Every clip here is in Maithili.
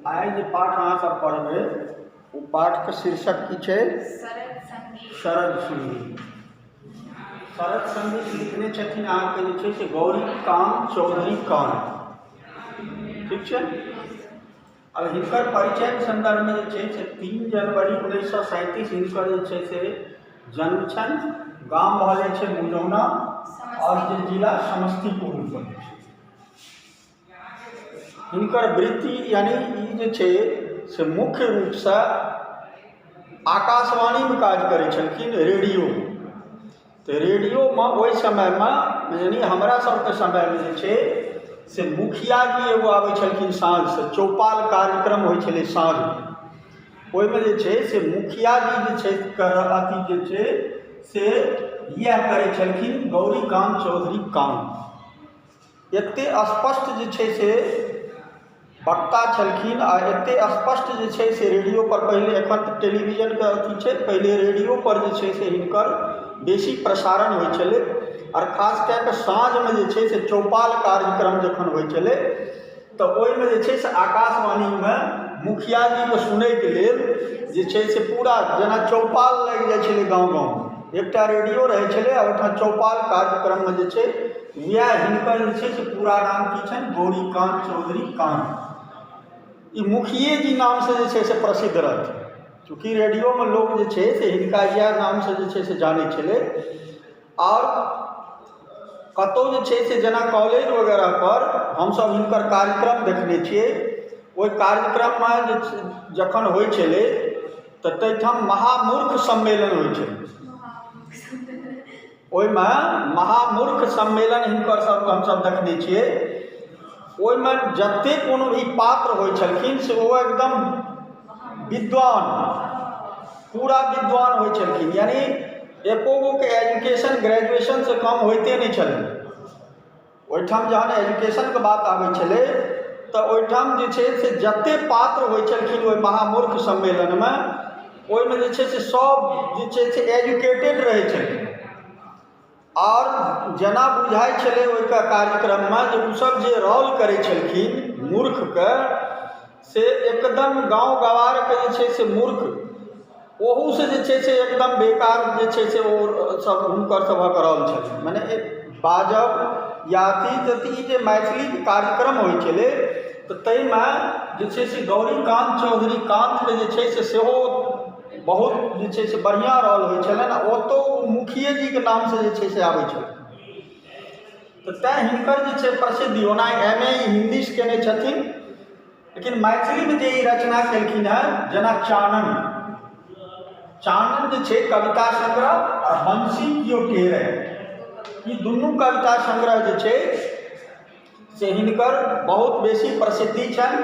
आइ जे पाठ अहाँ सब पढ़बै ओ पाठके शीर्षक की छै शरद संगीत शरद संगीत शरत सन्देश लिखने छथिन अहाँके जे छै से गौरी कान चौधरी कान ठीक छै अब हिनकर परिचय सन्दर्भमे जे छै से तीन जनवरी उन्नैस सए सैंतीस हिनकर जे छै से जन्म छनि गाम भऽ जाइ छै मुजौना आओर जे जिला समस्तीपुर पड़ै छै हुनकर वृत्ति यानि ई जे छै से मुख्य रूपसँ आकाशवाणीमे काज करै छलखिन रेडियोमे तऽ रेडियोमे ओहि समयमे यानि हमरा सभके समयमे जे छै से मुखिया जी एगो आबै छलखिन साँझकेँ चौपाल कार्यक्रम होइ छलै साँझकेँ ओहिमे जे छै से मुखिया जी जे छै से अथि जे छै से इएह करै छलखिन गौरीकान्त चौधरीक काम एते स्पष्ट जे छै से वक्ता छलखिन आ एते स्पष्ट जे छै से रेडियो पर पहिले एखन तऽ टेलीविजन के अथी छै पहिले रेडियो पर जे छै से हिनकर बेसी प्रसारण होइ छलै आओर खास कए कऽ साँझमे जे छै से चौपाल कार्यक्रम जखन होइ छलै तऽ ओहिमे जे छै से आकाशवाणीमे मुखिया जीके सुनैके लेल जे छै से पूरा जेना चौपाल लागि जाइ छलै गाँव गाँवमे एकटा रेडियो रहै छलै आ ओहिठाम चौपाल कार्यक्रममे जे छै उएह हिनकर जे छै से पूरा नाम की छनि गौरीकान्त चौधरी कान्त ई मुखिये जी नामसँ जे छै से प्रसिद्ध रहथिन चूँकि रेडियोमे लोक जे छै से हिनका इएह नामसँ जे छै से जानै छलै आओर कतहु जे छै से जेना कॉलेज वगैरहपर हमसभ हिनकर कार्यक्रम देखने छियै ओहि कार्यक्रममे जे छै जखन होइत छलै तऽ ताहिठाम महामूर्ख सम्मेलन होइत छलै ओहिमे महामूर्ख सम्मेलन हिनकरसभके हमसभ देखने छियै ओहिमे जतेक कोनो भी पात्र होइत छलखिन से ओ एकदम विद्वान पूरा विद्वान होइत छलखिन यानि एको गोके एजुकेशन ग्रेजुएशनसँ कम होइते नहि छलै ओहिठाम जहन एजुकेशनके बात आबै छलै तऽ ओहिठाम जे छै से जतेक पात्र होइ छलखिन ओहि महामूर्ख सम्मेलनमे ओहिमे जे छै से सभ जे छै से एजुकेटेड रहै छलखिन आओर जेना बुझाइ छलै ओहिके कार्यक्रममे जे ओसभ जे रोल करै छलखिन मूर्खके से एकदम गाँव गँवारके जे छै से मूर्ख ओहूसँ जे छै से एकदम बेकार जे छै से ओसभ हुनकरसभक रहल छनि मने बाजब या अथी तऽ ई जे मैथिलीके कार्यक्रम होइत छलै तऽ ताहिमे जे छै से गौरीकान्त चौधरी कान्तके जे छै से सेहो बहुत जे छै से बढ़िआँ रोल होइत छलनि आ ओतहु ओ मुखियेजीके नामसँ जे छै से आबैत छलखिन तऽ तैँ हिनकर जे छै प्रसिद्धि ओना एम ए इंग्लिश कयने छथिन लेकिन मैथिलीमे जे ई रचना केलखिन हेँ जेना चानन चानन जे छै कविता सङ्ग्रह आ बंसी कियो टेरै ई दुनू कविता सङ्ग्रह जे छै से हिनकर बहुत बेसी प्रसिद्धि छनि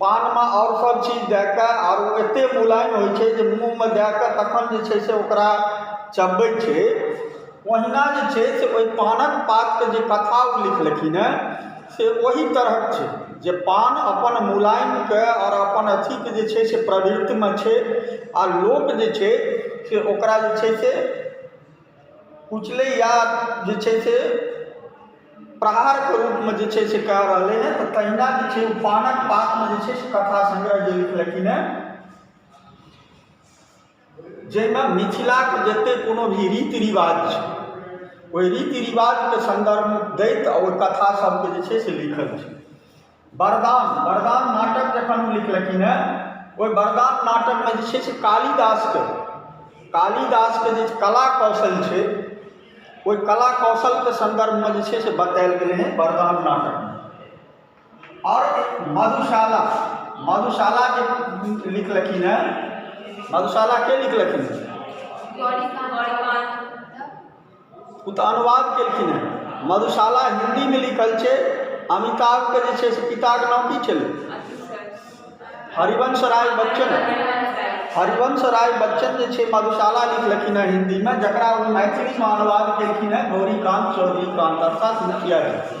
पानमे आओर सभ चीज दए कऽ आओर ओ एतेक मुलायम होइ छै जे मुँहमे दए कऽ तखन जे छै से ओकरा चबबै छै ओहिना जे छै से ओहि पानक पातके जे कथा ओ लिखलखिन हेँ से ओही तरहक छै जे पान अपन मुलायमकेँ आओर अपन अथीकेँ जे छै से प्रवृत्तिमे छै आ लोक जे छै से ओकरा जे छै से उछलैए जे छै से प्रहारके रूपमे जे छै से कए रहलै हेँ तऽ तहिना जे छै ओ पानक पातमे जे छै से कथा संग्रह जे लिखलखिन हेँ जाहिमे मिथिलाक जतेक कोनो भी रीति रिवाज छै ओहि रीति रिवाजके सन्दर्भ दैत ओ कथासभकेँ जे छै से लिखलखिन वरदान वरदान नाटक जखन ओ लिखलखिन हेँ ओहि वरदान नाटकमे जे छै से कालिदासके कालिदासके जे कला कौशल छै ओहि कला कौशलके सन्दर्भमे जे छै से बतायल गेलै हेँ वरदान नाटकमे आओर मधुशाला मधुशाला जे लिखलखिन हेँ मधुशाला के लिखलखिन हेँ ओ तऽ अनुवाद केलखिन हेँ मधुशाला हिन्दीमे लिखल छै अमिताभके जे छै से पिताके नाम की छलै हरिवंश राय बच्चन हरिवंश राय बच्चन जे छै मधुशाला लिखलखिन हेँ हिन्दीमे जकरा ओ मैथिलीमे अनुवाद केलखिन हेँ गौरीकान्त चौधरी कान्त अर्थात मुखिया जी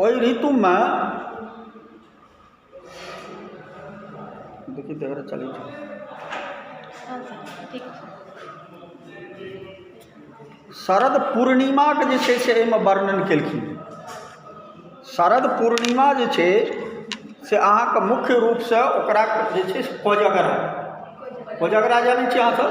ओहि ऋतुमे शरद पूर्णिमाके जे छै से एहिमे वर्णन केलखिन हेँ शरद पूर्णिमा जे छै से अहाँकेँ मुख्य रूपसँ ओकरा जे छै से कोजगरा कोजगरा जानैत छियै अहाँसभ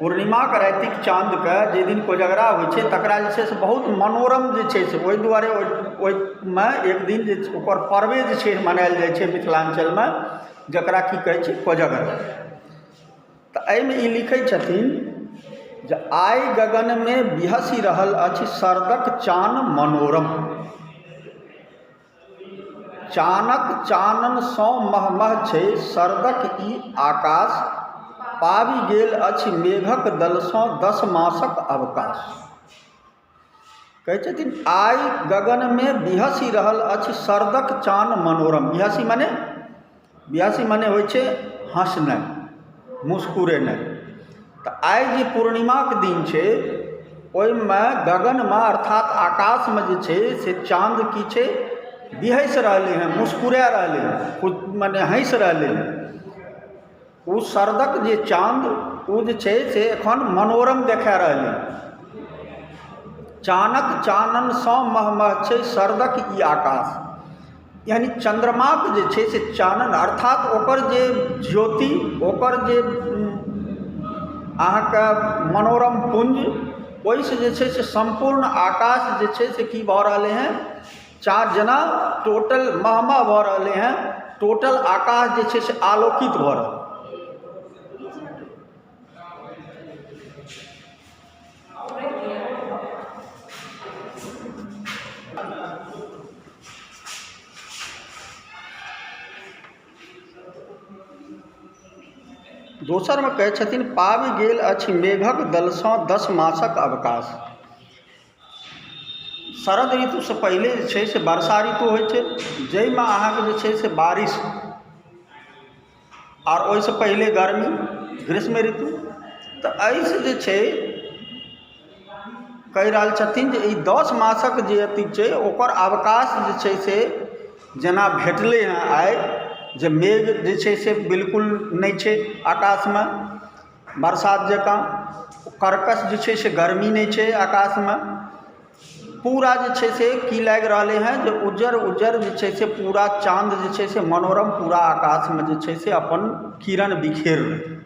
पूर्णिमाके रातिक चाँदके जाहि दिन कोजगरा होइ छै तकरा जे छै से बहुत मनोरम जे छै से ओहि दुआरे ओहिमे एक दिन जे छै ओकर पर्वे जे छै मनायल जाइ छै मिथिलाञ्चलमे जकरा की कहै छै कोजगरा तऽ एहिमे ई लिखै छथिन जे आइ गगनमे बिहसि रहल अछि शरदक चान मनोरम चानक चाननसँ मह मह छै शरदक ई आकाश पाबि गेल अछि मेघक दलसँ दस मासक अवकाश कहै छथिन आइ गगनमे बिहसि रहल अछि शरदक चान मनोरम बिहसि मने बियासी मने होइ छै हँसनाइ मुस्कुरेनाइ तऽ आइ जे पूर्णिमाक दिन छै ओहिमे गगनमे अर्थात आकाशमे जे छै से चाँद की छै बिहसि रहलै हेँ मुस्कुरा रहलै हेँ मने हँसि रहलै हेँ ओ शरदक जे चाँद ओ जे छै से एखन मनोरम देखा रहलै हेँ चानक चाननसँ महमह छै शरदक ई आकाश यानि चन्द्रमाके जे छै से चानन अर्थात ओकर जे ज्योति ओकर जे अहाँके मनोरम पुञ्ज ओहिसँ जे छै से सम्पूर्ण आकाश जे छै से की भऽ रहलै हेँ चार जेना टोटल मह मह भऽ रहलै हेँ टोटल आकाश जे छै से आलोकित भऽ रहलै हेँ दोसरमे कहैत छथिन पाबि गेल अछि मेघक दलसँ दस मासक अवकाश शरद ऋतुसँ पहिले जे छै से वर्षा ऋतु होइत छै जाहिमे अहाँकेँ जे छै से बारिश आ ओहिसँ पहिले गर्मी ग्रीष्म ऋतु तऽ एहिसँ जे छै कहि रहल छथिन जे ई दस मासक जे अथी छै ओकर अवकाश जे छै से जेना भेटलै हँ आइ जे मेघ जे छै से बिल्कुल नहि छै आकाशमे बरसात जकाँ कर्कश जे छै से गर्मी नहि छै आकाशमे पूरा जे छै से की लागि रहलै हँ जे उज्जर उज्जर जे छै से पूरा चाँद जे छै से मनोरम पूरा आकाशमे जे छै से अपन किरण बिखेर रहल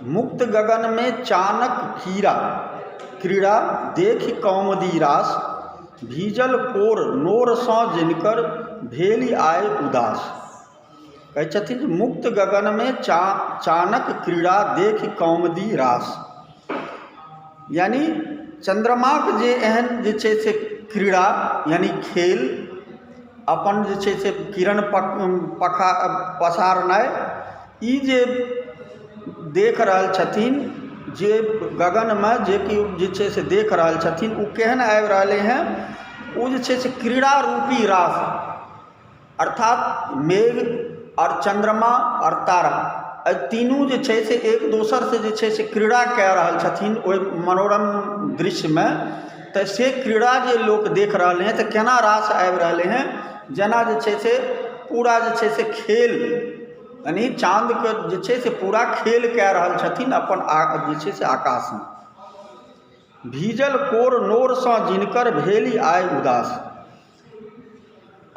मुक्त गगनमे चानक कीड़ा क्रीड़ा देखि कौमुदी रास भीजल कोर नोरसँ जिनकर भेलि आइ उदास कहै छथिन जे मुक्त गगनमे चानक क्रीड़ा देखि कौमुदी रास यानि चन्द्रमाक जे एहन जे छै से क्रीड़ा यानि खेल अपन जे छै से किरण पसारनाइ ई जे देख रहल छथिन जे गगनमे जे केओ जे छै से देख रहल छथिन ओ केहन आबि रहलै हेँ ओ जे छै से क्रीड़ा रूपी रास अर्थात मेघ आओर चन्द्रमा आओर तारा एहि तीनू जे छै से एक दोसरसँ जे छै से क्रीड़ा कऽ रहल छथिन ओहि मनोरम दृश्यमे तऽ से क्रीड़ा जे लोक देख रहलै हँ तऽ कोना रास आबि रहलै हँ जेना जे छै से पूरा जे छै से खेल यानी चाँदके जे छै से पूरा खेल कऽ रहल छथिन अपन जे छै से आकाशमे भीजल कोर नोरसँ जिनकर भेली आइ उदास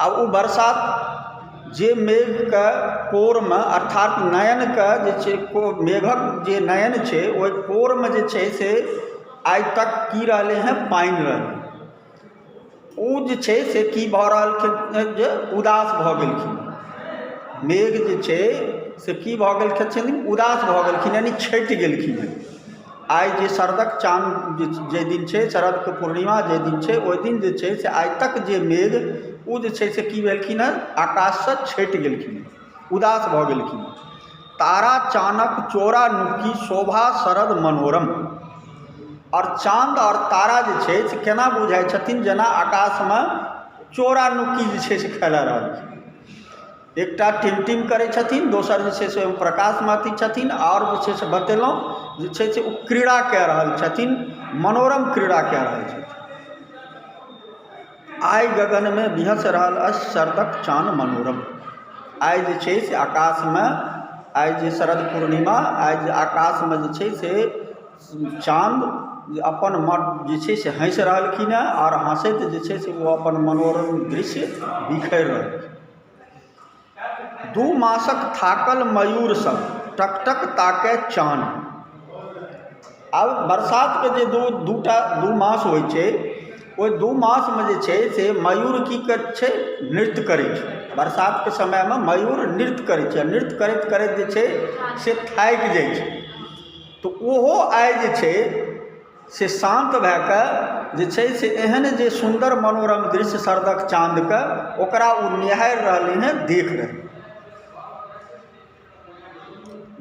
आ ओ बरसात जे मेघके कोरमे अर्थात नयनके जे छै मेघक जे नयन छै ओहि कोरमे जे छै से आइ तक की रहलै हेँ पानि रहलै ओ जे छै से की भऽ रहलखिन हेँ जे उदास भऽ गेलखिन मेघ जे छै से की भऽ गेलखिन उदास भऽ गेलखिन यानि छटि गेलखिन हेँ आइ जे शरदक चाँद जाहि दिन छै शरदके पूर्णिमा जाहि दिन छै ओहि दिन जे छै से आइ तक जे मेघ ओ जे छै से की भेलखिन हेँ आकाशसँ छटि गेलखिन हेँ उदास भऽ गेलखिन हेँ तारा चानक चोरा नुकी शोभा शरद मनोरम आओर चाँद आओर तारा जे छै से केना बुझाइत छथिन जेना आकाशमे चोरा नुकी जे छै से खेला रहलखिन एकटा टिम टिम करै छथिन दोसर जे छै से ओ प्रकाशमे अथी छथिन आओर जे छै से बतेलहुँ जे छै से ओ क्रीड़ा कए रहल छथिन मनोरम क्रीड़ा कए रहल छथिन आइ गगनमे विहँस रहल अछि शरदक चान मनोरम आइ जे छै से आकाशमे आइ जे शरद पूर्णिमा आइ जे आकाशमे जे छै से चाँद जे अपन मन जे छै से हँसि रहलखिन हेँ आओर हँसैत जे छै से ओ अपन मनोरम दृश्य बिखेर रहलखिन दू मासक थाकल मयूरसभ टक टक ताकए चान आब बरसातके जे दू दू टा दू मास होइत छै ओहि दू मासमे जे छै से मयूर की करैत छै नृत्य करैत छै बरसातके समयमे मयूर नृत्य करैत छै आ नृत्य करैत करैत जे छै से थाकि जाइत छै तऽ ओहो आइ जे छै से शान्त भए कऽ जे छै से एहन जे सुन्दर मनोरम दृश्य शरदक चाँदके ओकरा ओ निहारि रहलै हेँ देख रहलै हेँ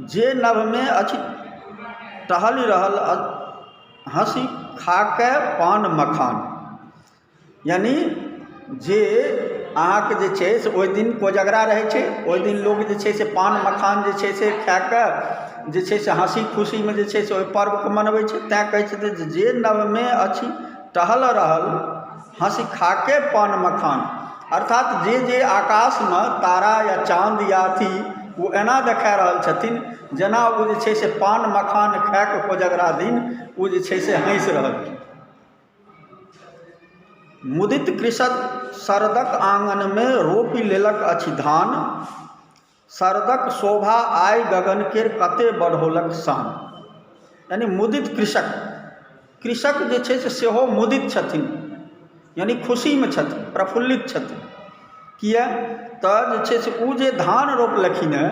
जे नभमे अछि टहलि रहल हँसी खा कऽ पान मखान यानि जे अहाँके जे छै से ओहि दिन कोजगरा रहै छै ओहि दिन लोक जे छै से पान मखान जे छै से खाए कऽ जे छै से हँसी खुशीमे जे छै से ओहि पर्वकेँ मनबै छै तैँ कहै छथिन जे जे नवमे अछि टहल रहल हँसि खा कऽ पान मखान अर्थात जे जे आकाशमे तारा या चाँद या अथि ओ एना देखाए रहल छथिन जेना ओ जे छै से पान मखान खाए कऽ कोजगरा दिन ओ जे छै से हँसि रहल मुदित कृषक शरदक आङनमे रोपि लेलक अछि धान शरदक शोभा आइ गगन केर कते बढ़ौलक शान यानि मुदित कृषक कृषक जे छै से सेहो मुदित छथिन यानि खुशीमे छथिन प्रफुल्लित छथिन किया तऽ जे छै से ओ जे धान रोपलखिन हेँ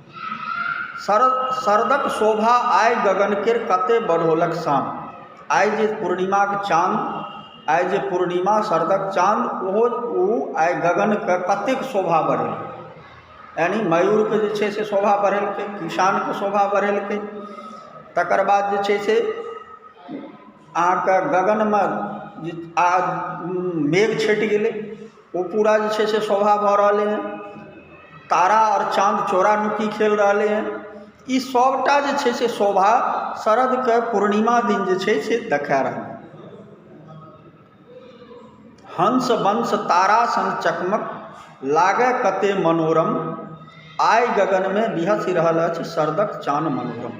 शरद शरदक शोभा आइ गगनकेँ कते बढ़ौलक शाम आइ जे पूर्णिमाक चान आइ जे पूर्णिमा शरदक चान ओहो ओ आइ गगनकेँ कतेक शोभा बढ़ेलक यानि मयूरके जे छै से शोभा बढ़ेलकै किसानके शोभा बढ़ेलकै तकर बाद जे छै से अहाँकेँ गगनमे जे आ मेघ छँटि गेलै ओ पूरा जे छै से सोभा भऽ रहलै हँ तारा आओर चाँद चोरा नुकी खेल रहलै हँ ई सबटा जे छै से सोभा शरदके पूर्णिमा दिन जे छै से देखा रहलै हँ हंस वंश तारा सन चकमक लागै कतेक मनोरम आइ गगनमे बिहसि रहल अछि शरदके चान मनोरम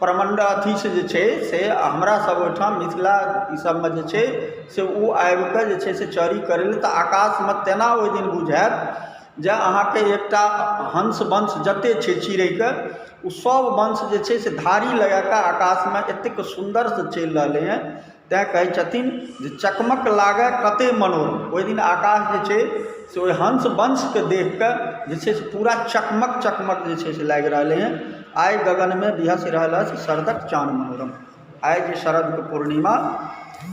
प्रमण्ड अथीसँ जे छै से हमरासभ ओहिठाम मिथिला ईसभमे जे छै से ओ आबि कऽ जे छै से चरी करय लेल तऽ आकाशमे तेना ओहि दिन बुझायत जे अहाँके एकटा हंस वंश जतेक छै चिड़ैके ओसभ वंश जे छै से धारी लगा कऽ आकाशमे एतेक सुन्दरसँ चलि रहलै हेँ तैँ कहैत छथिन जे चकमक लागए कतए मनोरम ओहि दिन आकाश जे छै से ओहि हंस वंशकेँ देखि कऽ जे छै से पूरा चकमक चकमक जे छै से लागि रहलै हेँ आइ गगनमे बिहसि रहल अछि शरदक चान मनोरम आइ जे शरदके पूर्णिमा